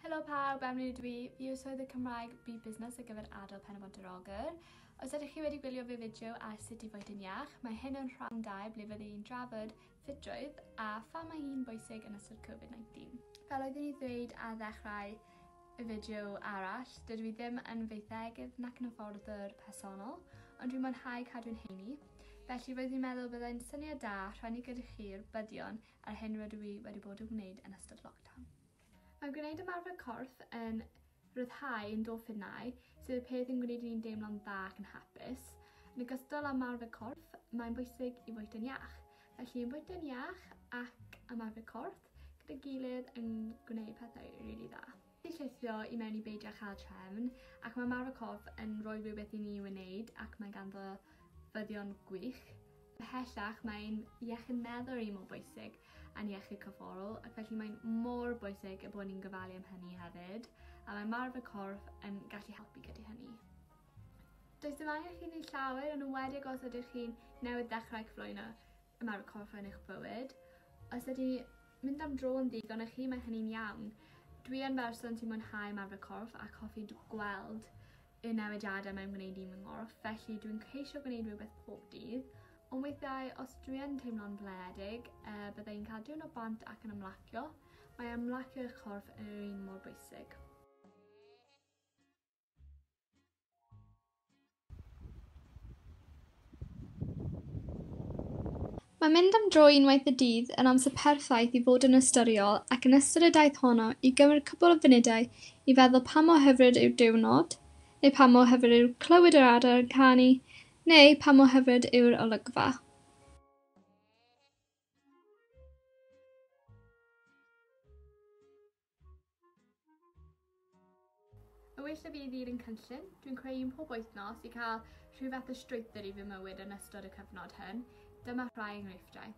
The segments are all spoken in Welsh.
Helo pawb, Emily ydw i. Fi yw swydd y Cymraeg Bu Busnes ar gyfer adol pen y bont yr ogr. Os ydych chi wedi gwylio fy fideo ar sut i fod yn iach, mae hyn yn rhan 2 ble fyddi i'n drafod ffitrwydd a pha mae hi'n bwysig yn ystod Covid-19. Fel oeddwn i ddweud ar ddechrau, Y fideo arall, dydw i ddim yn feiddegydd nac yn hyfforddwr personol, ond dwi'n mwynhau cadw'n heini, felly roedd fi'n meddwl byddai'n syniad da rhannu gyda chi'r buddion a'r hyn rydw i wedi bod yn gwneud yn ystod lockdown. Mae gwneud ymarfer corff yn rhyddhau endorffinau, sydd y peth yn gwneud i ni'n deimlo'n dda ac yn hapus. Yn ogystal â ymarfer corff, mae'n bwysig i fwyta'n iach. Felly yn bwyta'n iach ac ymarfer corff, gyda'i gilydd yn gwneud pethau rili dda. Ni'n llithro i mewn i beidio cael trefn ac mae Mara Cof yn rhoi rhywbeth i ni i'w wneud ac mae ganddo fyddion gwych. Ymhellach mae ein iechyd meddwl ni mor bwysig a'n iechyd corfforol ac felly mae'n mor bwysig y bod ni'n gofalu am hynny hefyd a mae Marfa Corff yn gallu helpu gyda hynny. Does dim angen chi wneud llawer ond yn wedi os ydych chi'n newydd ddechrau cyflwyno y mae coffa yn eich bywyd. Os ydi mynd am dro yn ddigon i chi, mae hynny'n iawn. Dwi yn berson sy'n mwynhau ymarfer corff ac hoffi gweld y newidiadau mae'n gwneud i fy nghorff, felly dwi'n ceisio gwneud rhywbeth pob dydd. Ond weithiau, os dwi yn teimlo'n blinedig, e, eh, byddai yn cael diwrnod bant ac yn ymlacio. Mae ymlacio eich corff yn yr un mor bwysig. Mae mynd am dro unwaith y dydd yn amser perffaith i fod yn ystyriol ac yn ystod y daith honno i gymryd cwpl o funudau i feddwl pa mor hyfryd yw'r diwrnod, neu pa mor hyfryd yw clywed yr adar yn canu, neu pa mor hyfryd yw'r olygfa. Y well y fydd i'r un cynllun dwi'n creu un pob wythnos i cael rhyw fath o strwythur i fy mywyd yn ystod y cyfnod hyn. Dyma rhai enghreifftiau.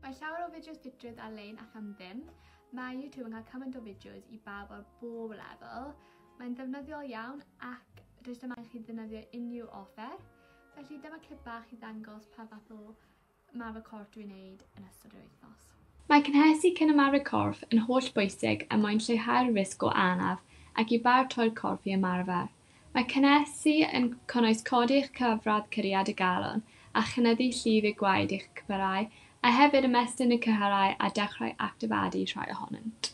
Mae llawer o fideos digit ar-lein ac am ddim. Mae YouTube yn cael cymaint o fideos i bawb ar bob lefel. Mae'n ddefnyddiol iawn ac does dim angen i chi ddefnyddio unrhyw offer. Felly dyma clip bach i ddangos pa fath o marfer corff dwi'n neud yn ystod yr wythnos. Mae cynhesu cyn ymarfer corff yn holl bwysig er mwyn lleihau'r risg o anaf ac i baratoi'r corff i ymarfer. Mae cynhesu yn cynnwys codi eich cyfradd curiad y galon a chynyddu llif eu gwaed i'ch cypyrau, a hefyd ymestyn y cyhyrau a dechrau actifadu rhai ohonynt.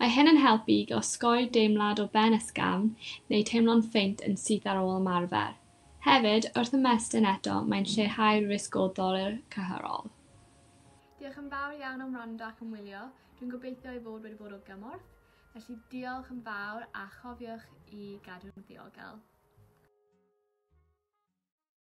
Mae hyn yn helpu i osgoi deimlad o ben ysgafn neu teimlo'n faint yn syth ar ôl ymarfer. Hefyd, wrth ymestyn eto, mae'n lleihau'r risg o ddolur cyhyrol. Diolch yn fawr iawn am wrando ac am wylio, dwi'n gobeithio ei fod wedi bod o gymorth, felly diolch yn fawr a chofiwch i gadw'n ddiogel.